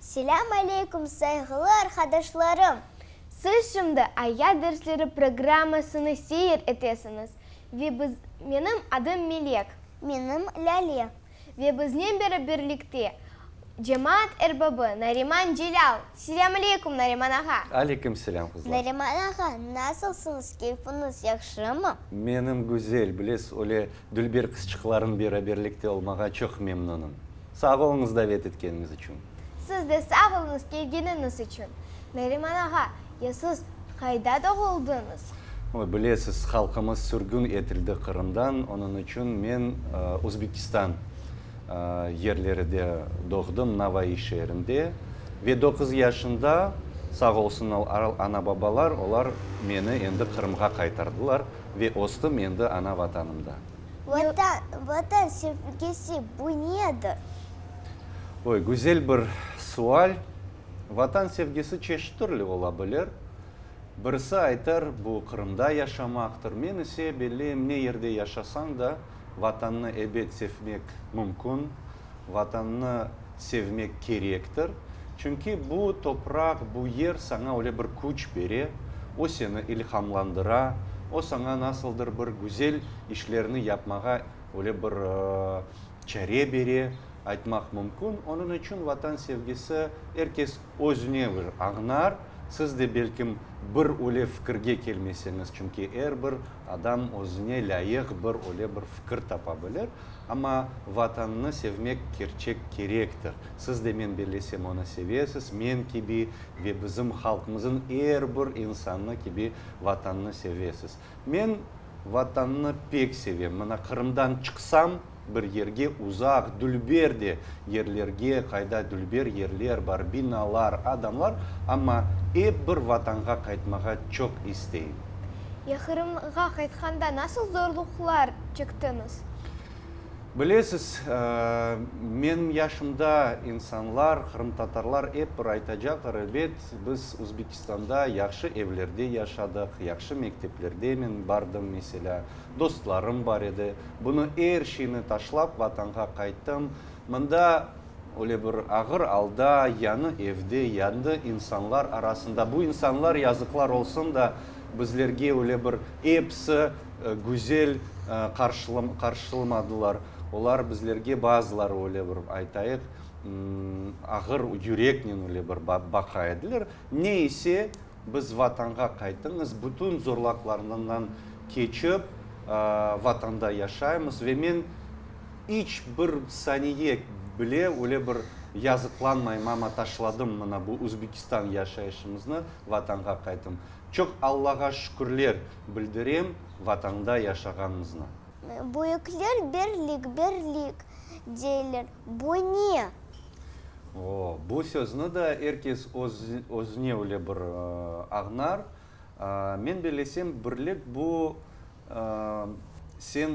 Selâm aleykum, sayğılı arqadaşlarım! Siz şimdi Ayat dersleri programmasını seyir etesiñiz ve biz, menim adım Melek. Menim Lâle. Ve biznen beri birlikte cemaat erbabı Nariman Celâl. Selâmaleyküm, Nariman ağa! Aleyküm selâm, qızlar! Nariman ağa, nasılsıñız, keyfiñiz yahşımı? Menim güzel, bilesiz, öyle dülber qızçıqlarım beraberlikte olmağa çoq memnunım. Sağ oluñız davet etkeniñiz içün! Siz de sağ oluñız kelgeniñiz içün. Neriman ağa, ya siz qayda doğuldıñız? Oy, bilesiz, halqımız sürgün etildi Qırımdan, onıñ içün men Özbekistan yerleride doğdım, Navai şeerinde. Ve doquz yaşında, sağ olsun ana-babalar, olar meni endi Qırımğa qaytardılar ve östüm endi ana Vatanımda. Vatan, Vatan sevgisi, bu nedir? Oy, güzel bir sual. Vatan sevgisi çeşit türlü ola bilir. Birisi aytar, bu Qırımda yaşamaqtır. Men ise belleyim, ne yerde yaşasañ da, Vatannı ebet sevmek mümkün, Vatannı sevmek kerektir. Çünki bu topraq, bu yer saña öyle bir küç bere, o seni ilhamlandıra, o saña nasıldır bir güzel işlerni yapmağa öyle bir çare bere, aytmaq mümkün. Onıñ içün Vatan sevgisi er kes özüne bir añar. Siz de belkim bir öyle fikirge kelmeseñiz, çünki er bir adam özüne lâyıq bir öyle bir fikir tapa bilir. Amma Vatannı sevmek kerçek kerektir. Siz de men bellesem onı sevesiz, men kibi ve bizim halqımızıñ er bir insanı kibi Vatannı sevesiz. Men Vatannı pek sevem. Mına, Qırımdan çıqsam, bir yerge, uzaq, dülber de yerlerge, qayda dülber yerler bar, binalar, adamlar, amma ep bir Vatanğa qaytmağa çoq isteyim. Ya Qırımğa qaytqanda nasıl zorluqlar çektiñiz? Bilesiz, menim yaşımda insanlar, qırımtatarlar ep bir aytacaqlar, ebet, biz Qırğızstanda yahşı evlerde yaşadıq, yahşı mekteplerde men bardım, meselâ, dostlarım bar edi. Bunı, er şeyni taşlap, Vatanğa qayttım. Mında, öyle bir ağır alda, yañı evde, yañı insanlar arasında, bu insanlar, yazıqlar olsun da, bizlerge öyle bir episi güzel qarşılamadılar. Olar bizlerge, bazıları, öyle bir aytayıq, Ağır yüreknen öyle bir baqa ediler. Ne ise, biz Vatanğa qaytıñız, bütün zorlaqlarından keçip, Vatanda yaşaymız ve men iç bir saniye bile öyle bir yazıqlanmayım, amma taşladım mına bu Özbekistan yaşayışımıznı, Vatanğa qaytım. Çoq Allağa şükürler bildirem Vatanda yaşağanımıznı. Büyükler birlik, birlik, deyler, bu ne? O, bu sözni da er kes özüne öyle bir añar. Men belesem, birlik, bu, sen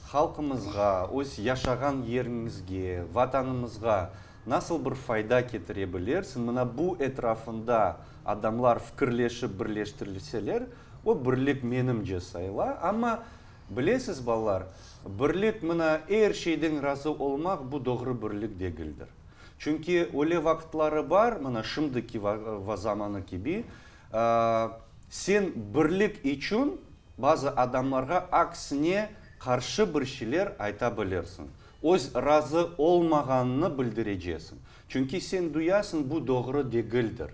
halqımızğa, öz yaşağan yeriñizge, Vatanımızğa nasıl bir fayda ketire bilersiñ? Mına bu etrafında adamlar fikirleşip birleştirilseler, o birlik menimce sayıla. Amma Bilesiz, balalar, birlik, mına, er şeyden razı olmaq, bu doğru birlik degildir. Çünki öyle vaqıtları bar, mına, şimdiki zamanı kibi, sen birlik içün bazı adamlarğa aksine qarşı bir şeyler ayta bilirsiñ, öz razı olmağanıñnı bildirecesiñ, çünki sen duyasıñ, bu doğru degildir.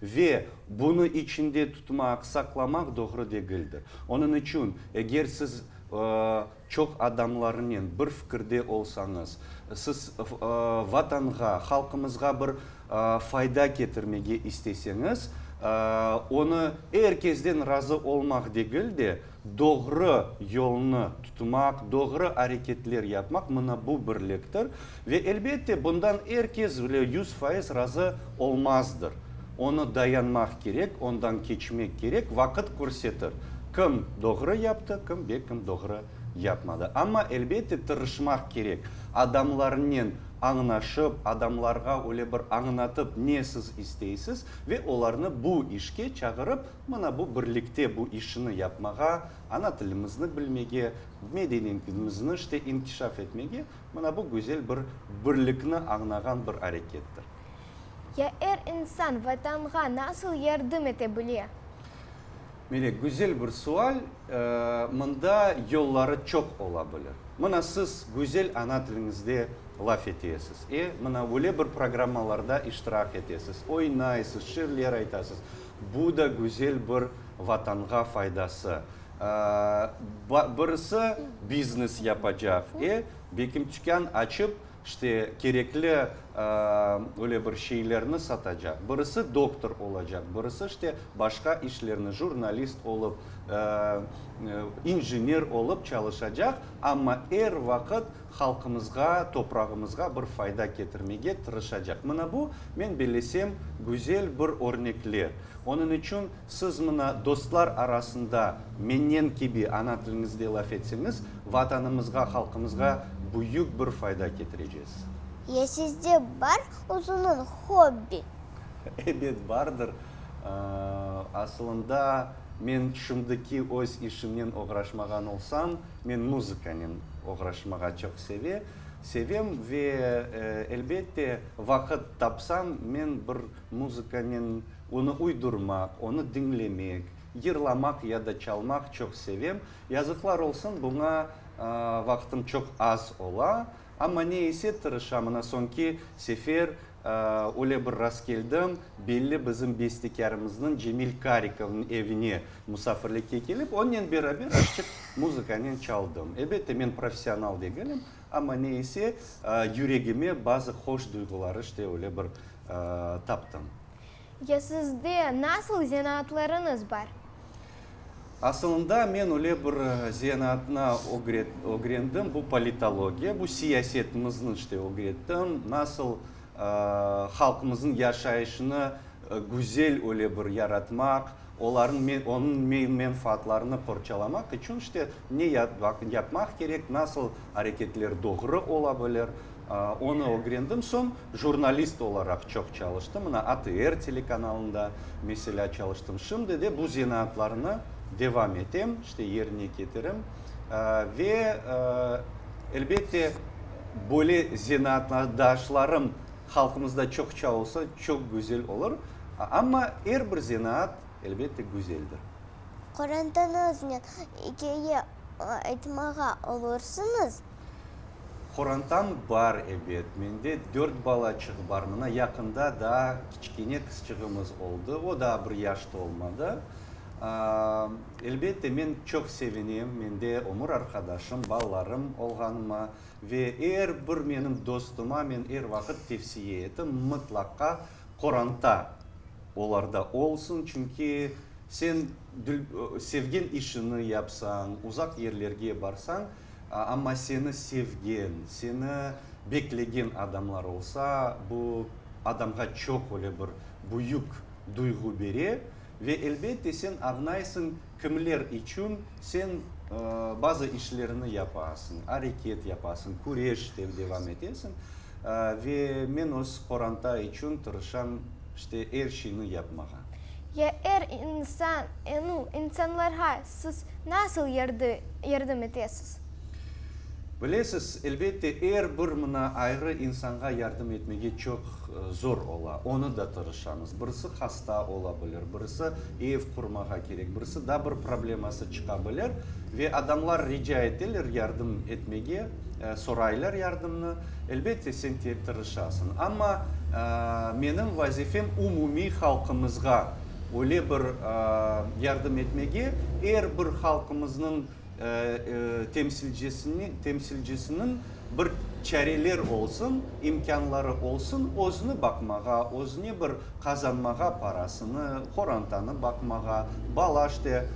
Ve bunı içinde tutmaq, saqlamaq doğru degildir. Onıñ içün, eger siz çoq adamlarnen bir fikirde olsañız, siz Vatanğa, halqımızğa bir fayda ketirmege isteseñiz, onı er kesden razı olmaq degil de, Doğru yolnı tutmaq, doğru areketler yapmaq, mına bu birliktir. Ve elbette, bundan er kes bile yüz fayız razı olmazdır. Onı dayanmaq kerek, ondan keçmek kerek, vaqıt körsetir, kim doğru yaptı, kim ve kim doğru yapmadı. Amma, elbette, tırışmaq kerek, adamlarnen añnaşıp, adamlarğa öyle bir añnatıp, ne siz isteysiz, ve olarnı bu işke çağırıp, Mına bu birlikte bu işini yapmağa, ana tilimizni bilmege, medeniyetimizni işte inkişaf etmege, mına bu güzel bir birlikni añnağan bir arekettir. Ya er insan Vatanğa nasıl yardım ete bile? Mire, güzel bir sual. Mında yolları çoq ola bilir. Mına siz güzel ana tiliñizde laf etesiz, e, mına öyle bir programmalarda iştirak etesiz, oynaysız, şiirler aytasız. Bu da güzel bir Vatanğa faydası. Birisi biznes yapacaq, e, bekim tükân açıp, işte, kerekli öyle bir şeylerni satacaq, birisi doktor olacaq, birisi, işte, başqa işlerni, jurnalist olıp, injiner olıp çalışacaq, amma er vaqıt Halqımızğa, toprağımızğa bir fayda ketirmege tırışacaq. Mına bu, men bellesem, güzel bir örnekler. Onıñ içün siz mına dostlar arasında mennen kibi ana tiliñizde laf etseñiz, Vatanımızğa, halqımızğa büyük bir fayda ketirecez. Ya sizde bar özüniñ hobbi? Ebet bardır. Asılında men şimdiki öz işimnen oğraşmağan olsam, Men muzıkanen oğraşmağa çoq seve, sevem ve, elbette, vaqıt tapsam, men bir muzıkanen onı uydurmaq, onı diñlemek, yırlamaq ya da çalmaq çoq sevem. Yazıqlar olsun, buña vaqtım çoq az ola. Amma ne ise tırışam, ana soñki sefer öyle bir rastkeldim, belli bizim bestekârımıznıñ Cemil Karikovnıñ evine musafirlikke kelip, onnen beraber aşçıq muzıkanen çaldım. Ebette, men professional degilim, amma ne ise yüregime bazı hoş duyğuları işte öyle bir taptım. Ya sizde nasıl zenaatlarıñız bar? Asılında men öyle bir zenaatnı ögrendim, bu politologiya, bu siyasetimizni işte ögrettim, nasıl halqımıznıñ yaşayışını güzel öyle bir yaratmaq, olarnıñ, onıñ menfaatlarını qorçalamaq içün işte ne yapmaq kerek, nasıl areketler doğru ola bilir. Onı ögrendim soñ, jurnalist olaraq çoq çalıştım. Mına, ATR telekanalında, meselâ, çalıştım. Şimdi de bu zenaatlarnı devam etem, işte, yerine ketirem. Ve, elbette, böyle zenaatdaşlarım halqımızda çoqça olsa, çoq güzel olur. Amma er bir zenaat, elbette, güzeldir. Qorantanıñıznen ikâye aytmağa olursıñız? Qorantam bar, ebet. Mende dört balaçıq bar. Mına yaqında daa kiçkene qızçığımız oldı. O daa bir yaş tolmadı. Elbette, men çoq sevinim mende ömür arqadaşım, balalarım olğanıma. Ve er bir menim dostuma men er vaqıt tevsiye etim, mıtlaqa qoranta olarda olsun. Çünki sen sevgen işini yapsañ, uzaq yerlerge barsañ, Amma seni sevgen, seni beklegen adamlar olsa, bu adamğa çoq öyle bir büyük duyğu bere. Ve elbette sen añlaysıñ, kimler içün sen bazı işlerni yapasıñ, areket yapasıñ, küreşten devam etesiñ. Ve men öz qoranta içün tırışam işte er şeyni yapmağa. Ya er insan, yañı insanlarğa Siz nasıl yardım etesiz? Bilesiz, elbette, er bir mına ayrı insanğa yardım etmege çoq zor ola. Onı da tırışamız. Birisi hasta ola bilir, birisi ev qurmağa kerek, birisi da bir probleması çıqa bilir. Ve adamlar rica eteler yardım etmege, soraylar yardımnı. Elbette, sen tırışasıñ. Amma menim vazifem umumiy halqımızğa Öyle bir yardım etmege, er bir halqımıznıñ temsilcisiniñ bir çareler olsun, imkânları olsun, özüni baqmağa, özüne bir qazanmağa parasını, qorantanı baqmağa, bala işte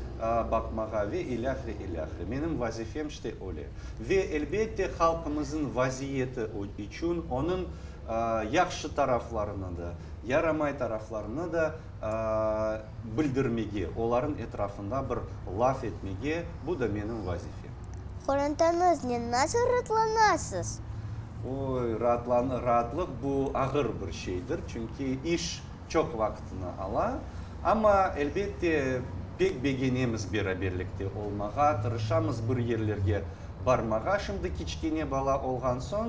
baqmağa ve ilâhre, ilâhre. Menim vazifem işte öyle. Ve elbette halqımıznıñ vaziyeti içün, onıñ yahşı taraflarını da, yaramay taraflarını da bildirmege, olarnıñ etrafında bir laf etmege, bu da menim vazifem. Qorantanıznıñ nasıl raatlanasız? Oy, raatlıq bu ağır bir şeydir, çünki iş. çoq vaqıtını ala, amma, elbette, pek begenemiz beraberlikte olmağa, tırışamız bir yerlerge barmağa. Şimdi kiçkene bala olğan soñ,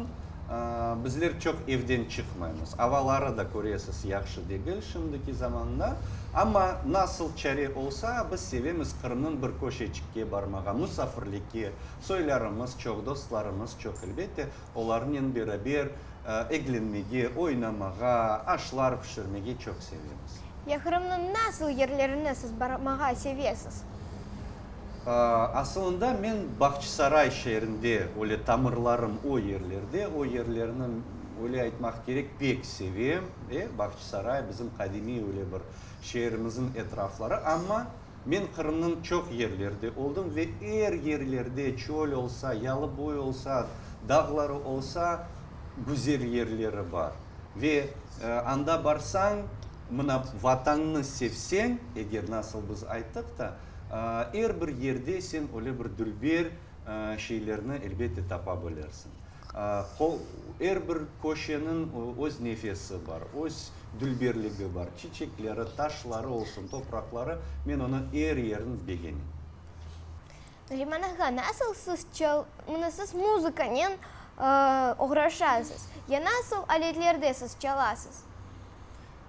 bizler çoq evden çıqmaymız. Avaları da, köresiz, yahşı degil şimdiki zamanda. Amma nasıl çare olsa, biz sevemiz Qırımnıñ bir köşeçikke barmağa, musafirlikke. Soylarımız çoq, dostlarımız çoq, elbette. Olarnen beraber eglenmege, oynamağa, aşlar pişirmege çoq sevemiz. Ya Qırımnıñ nasıl yerlerine siz barmağa sevesiz? Asılında men Bağçısaray şeerinde, öyle tamırlarım o yerlerde, o yerlerni, öyle aytmaq kerek, pek sevem. Bağçısaray bizim qadimiy öyle bir şeerimizin etrafları. Amma Men Qırımnıñ çoq yerleride oldım ve er yerlerde, çöl olsa, yalıboy olsa, dağları olsa, güzel yerleri bar. Ve anda barsañ, mına Vatannı sevseñ, eger nasıl biz ayttıq da, er bir yerde sen öyle bir dülber şeylerni elbette tapa bilersiñ. Er bir köşeniñ öz nefesi bar, öz dülberligi bar, çiçekleri, taşları olsun, topraqları, men onıñ er yerini begenim. Neriman ağa, nasıl siz çal, mına siz muzıkanen oğraşasız, ya nasıl aletlerde siz çalasız?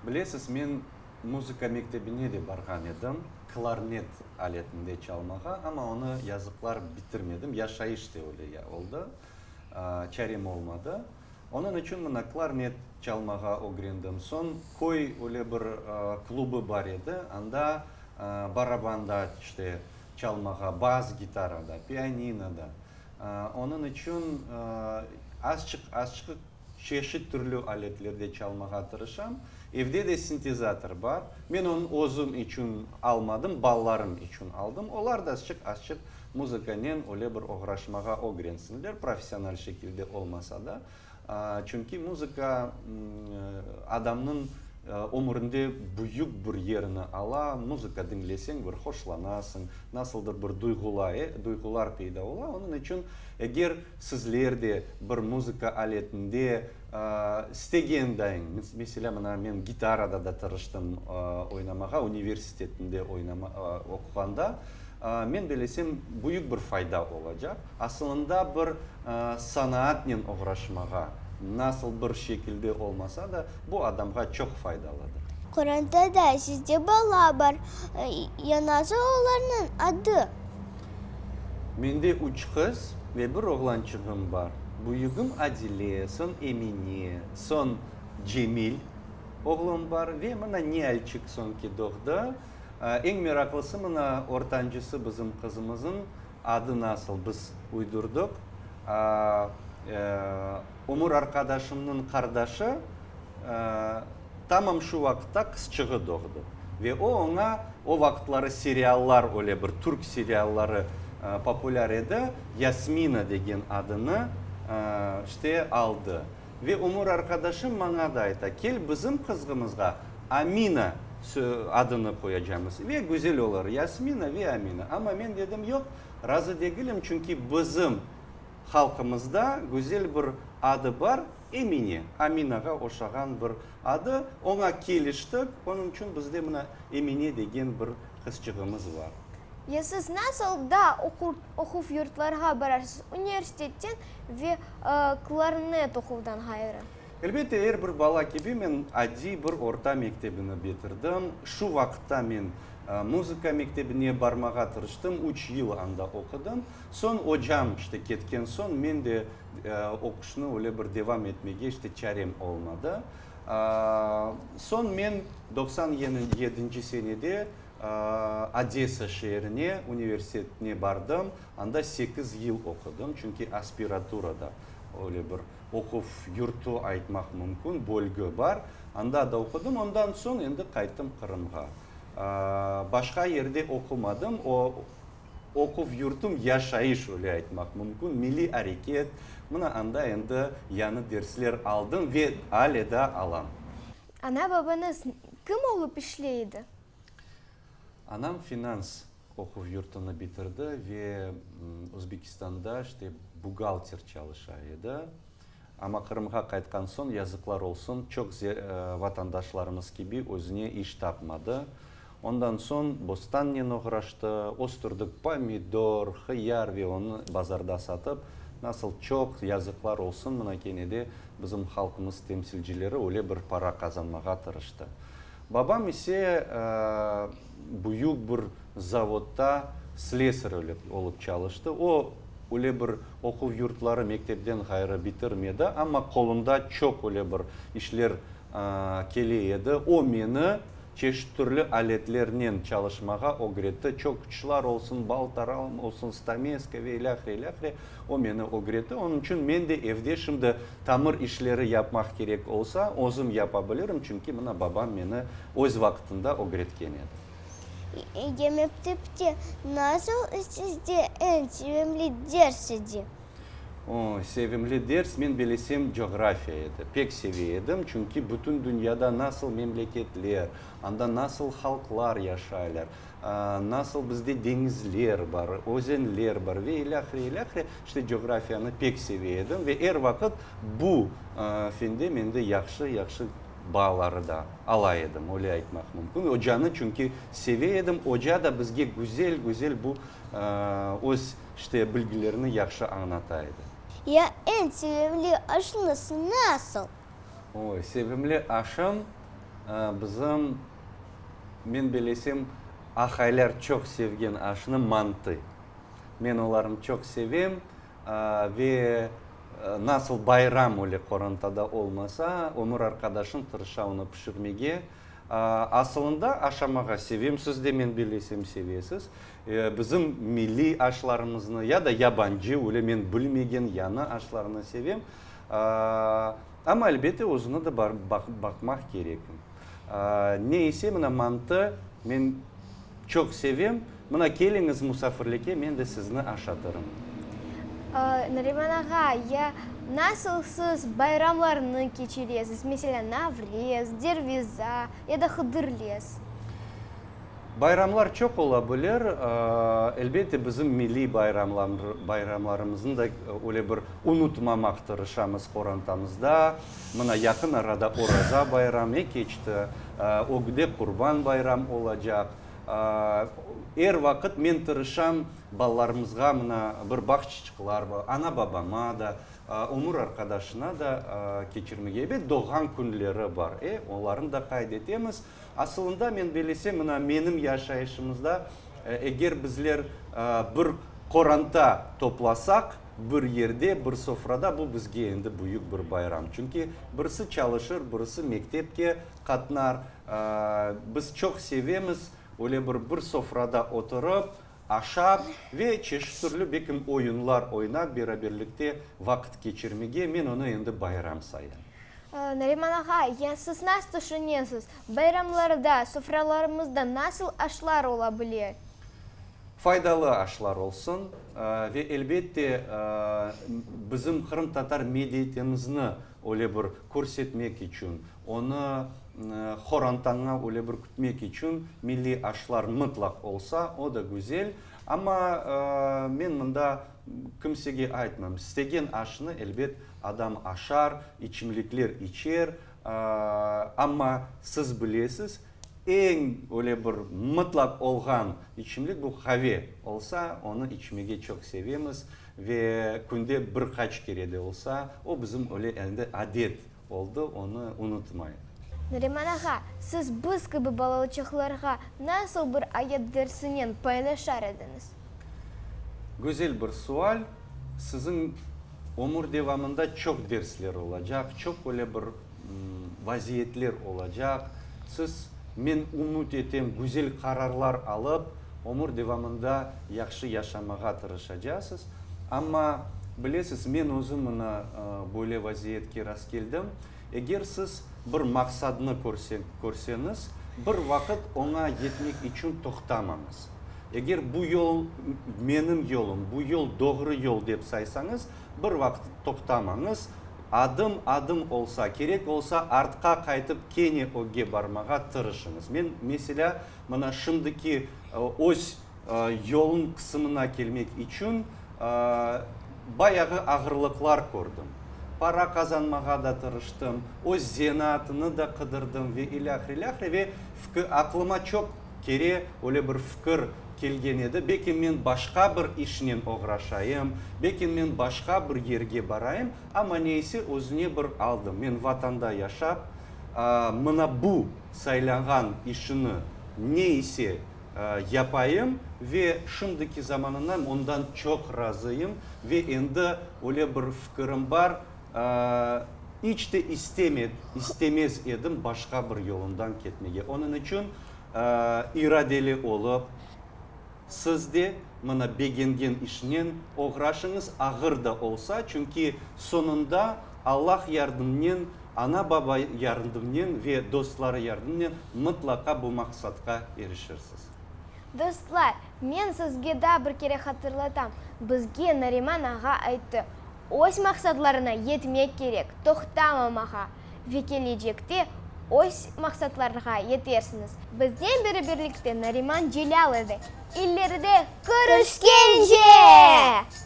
Bilesiz, men muzıka mektebine de barğan edim, klarnet aletinde çalmağa, amma onı yazıqlar bitirmedim, yaşayış da öyle oldı, çarem olmadı. Onıñ içün mına klarnet çalmağa ögrendim. Soñ köy öyle bir klubı bar edi, anda barabanda işte çalmağa, bas gitarada, pianinoda. Onıñ içün azçıq-azçıq. Çeşit türlü aletlerde çalmağa tırışam. Evde de sintezator bar. Men onı özüm içün almadım, balalarım içün aldım. Olar da azçıq-azçıq muzıkanen öyle bir oğraşmağa ögrensinler, professional şekilde olmasa da. Çünki muzıka adamnıñ ömürinde büyük bir yerini ala. Muzıka diñleseñ, bir hoşlanasıñ, nasıldır bir duyğular peyda ola. Onıñ içün eger. Sizler de bir muzıka aletinde istegen dayıñ, meselâ, mına men gitarada da tırıştım oynamağa, universitetinde oquğanda. Men belesem, büyük bir fayda olacaq. Asılında bir sanaatnen oğraşmağa, nasıl bir şekilde olmasa da, bu adamğa çoq faydalıdır. Qorantada sizde bala bar, yanası olarnıñ adı? Mende üç qız ve bir oğlançığım bar. Büyügim Adile, soñ Emine, soñ Cemil oğlum bar ve mına Nialçik soñ ki doğdı. Eñ meraqlısı mına ortancısı bizim qızımızıñ adı nasıl biz uydurdıq. Ömür arqadaşımnıñ qardaşı. Tamam şu vaqıtta qızçığı doğdı. Ve o oña, o vaqıtları seriallar, öyle bir türk serialları populâr edi, Yasmina degen adını işte aldı. Ve ömür arqadaşım maña da ayta, kel, bizim qızğımızğa Amina adını qoyacamız ve güzel olur, Yasmina ve Amina. Amma men dedim, yoq, razı degilim, çünki bizim halqımızda güzel bir adı bar. Emine, Aminağa oşağan bir adı, oña keliştik, onıñ içün bizde mına Emine degen bir qızçığımız bar. Ya siz nasıl da oquv yurtlarğa bararsız, universitetten ve klarnet oquvdan ğayrı? Elbette, er bir bala kibi men adiy bir orta mektebini bitirdim. Şu vaqıtta men muzıka mektebine barmağa tırıştım, üç yıl anda oqudım. Soñ ocam işte ketken soñ, men de Oquşnı öyle bir devam etmege işte çarem olmadı. Soñ men doqsan yedinci senede Odesa şeerine, universitetine bardım. Anda sekiz yıl oqudım, çünki aspiratura da öyle bir oquv yurtu aytmaq mümkün, bölge bar. Anda da oqudım. Ondan soñ endi qayttım Qırımğa. Başqa yerde oqumadım. O Oquv yurtum, yaşayış, öyle aytmaq mümkün, milliy areket, mına anda endi yañı dersler aldım ve ale da alam. Ana-babañız kim olıp işley edi? Anam finans oquv yurtunı bitirdi ve Özbekistanda işte buğgalter çalışa edi. Amma Qırımğa qaytqan soñ, yazıqlar olsun, çoq vatandaşlarımız kibi özüne iş tapmadı. Ondan soñ bostannen oğraştı, östürdük pomidor, hıyar ve onı bazarda satıp, nasıl çoq, yazıqlar olsun, mına kene de bizim halqımız temsilcileri öyle bir para qazanmağa tırıştı. Babam ise büyük bir zavodda slesar olıp çalıştı. O, öyle bir oquv yurtları, mektepten ğayrı bitirmedi, amma qolunda çoq öyle bir işler kele edi. O, meni Çeşit-türlü aletlernen çalışmağa ögretti, çöküçlar olsun, baltaran olsun, stameska ve ilâhre, ilâhre, o meni ögretti. Onıñ içün men de evde şimdi tamır işleri yapmaq kerek olsa, özüm yapa bilirim, çünki mına babam meni öz vaqtında ögretken edi. Yemekte pite nasıl sizde eñ sevimli ders edi? O, sevimli ders, men bilesem, coğrafiya edi. Pek seve edim, çünki bütün dünyada nasıl memleketler, anda nasıl halqlar yaşaylar, nasıl bizde deñizler bar, özenler bar ve ilâ ahire, ilâ ahire. İşte, coğrafiyanı pek seve edim ve er vaqıt bu fende mende yahşı, yahşı bağları da ala edim, öyle aytmaq mümkün. Ocanı çünki seve edim, oca da bizge güzel, güzel bu öz, İşte, bilgilerni yahşı añnata edi. Ya eñ sevimli aşıñız nasıl? Oy, sevimli aşım, bizim, men belesem, ahaylar çoq sevgen aşnı mantı. Men olarnı çoq sevem ve nasıl bayram öyle qorantada olmasa, ömür arqadaşım tırışa onı pişirmege. Asılında aşamağa sevem, siz de, men belesem, sevesiz. Bizim milliy aşlarımıznı ya da yabancı, öyle men bilmegen yañı aşlarnı sevem. Amma, elbette, özüne de baqmaq kerek. Ne ise, mına, mantı men çoq sevem. Mına, keliñiz musafirlikke, men de sizni aşatırım. Nariman ağa, ya nasıl siz bayramlarnı keçiresiz? Meselâ, Navrez, Derviza ya da Hıdırlez? Bayramlar çoq ola bilir, elbette, bizim milliy bayramlarımıznı da öyle bir unutmamaq tırışamız qorantamızda. Mına, yaqın arada Oraza bayramı keçti, ögde Qurban bayramı olacaq. Er vaqıt men tırışam balalarımızğa mına bir bağ çiçiqlar, ana-babama da, ömür arqadaşına da keçirmege. Elbet, doğğan künleri bar, onlarnı da qayd etemiz. Asılında men belesem, mına menim yaşayışımızda, eger bizler bir qoranta toplasaq, bir yerde, bir sofrada, bu bizge endi büyük bir bayram. Çünki birisi çalışır, birisi mektepke qatnar. Biz çoq sevemiz öyle bir bir sofrada oturıp, Aşap ve çeşit türlü bekim oyunlar oynap beraberlikte vaqıt keçirmege men onı endi bayram sayam. Nariman ağa, ya siz nasıl tüşünesiz, bayramlarda sofralarımızda nasıl aşlar ola bile? Faydalı aşlar olsun ve elbette bizim qırımtatar medeiyetimizni öyle bir körsetmek içün, Onı qorantaña öyle bir kütmek içün milliy aşlar mıtlaq olsa, o da güzel. Amma men mında kimsege aytmam, istegen aşnı, elbet, adam aşar, içimlikler içer. Amma siz bilesiz, eñ öyle bir mıtlaq olğan içimlik, bu qave olsa, onı içmege çoq sevemiz ve künde bir qaç kere de olsa, o bizim öyle endi adet oldı, onı unutmayıq. Nariman ağa, siz biz kibi balalıçaqlarğa nasıl bir ayat dersinen paylaşar ediñiz? Gözel bir sual. Siziñ ömür devamında çoq dersler olacaq, çoq öyle bir vaziyetler olacaq. Siz, men ümüt etem, güzel qararlar alıp, ömür devamında yahşı yaşamağa tırışacasız. Amma, bilesiz, men özüm mına böyle vaziyetke rastkeldim. Eger siz bir maqsadnı körseñiz, bir vaqıt oña yetmek içün toqtamañız. Eger bu yol menim yolum, bu yol doğru yol dep saysañız, bir vaqıt toqtamañız, adım-adım olsa, kerek olsa, artqa qaytıp kene ögge barmağa tırışıñız. Men, meselâ, mına şimdiki öz. Yolun qısımına kelmek içün bayağı ağırlıqlar kördim. Para qazanmağa da tırıştım, öz zenaatını da qıdırdım ve ilâhre ilâhre ve aqlıma çoq kere öyle bir fikir kelgen edi, beki men başqa bir işnen oğraşayım, beki men başqa bir yerge barayım, amma neyse özüne bir aldım. Men Vatanda yaşap, mına bu saylanğan işini neyse, yapayım ve şimdiki zamanınan ondan çoq razıyım ve endi öyle bir fikirim bar, iç de istemez edim başqa bir yolundan ketmege. Onıñ içün iradeli olıp, siz de mına begengen işnen oğraşıñız, ağır da olsa, çünki soñunda Allah yardımnen, Ana-baba yardımnen ve dostları yardımnen mıtlaqa bu maqsadqa erişirsiz. Dostlar, men sizge daa bir kere hatırlatam, bizge Nariman ağa ayttı, öz maqsadlarına yetmek kerek, toqtamamağa, ve kelecekte öz maqsadlarğa yetersiñiz. Biznen bereberlikte Nariman Celâl edi. İleride körüşkence!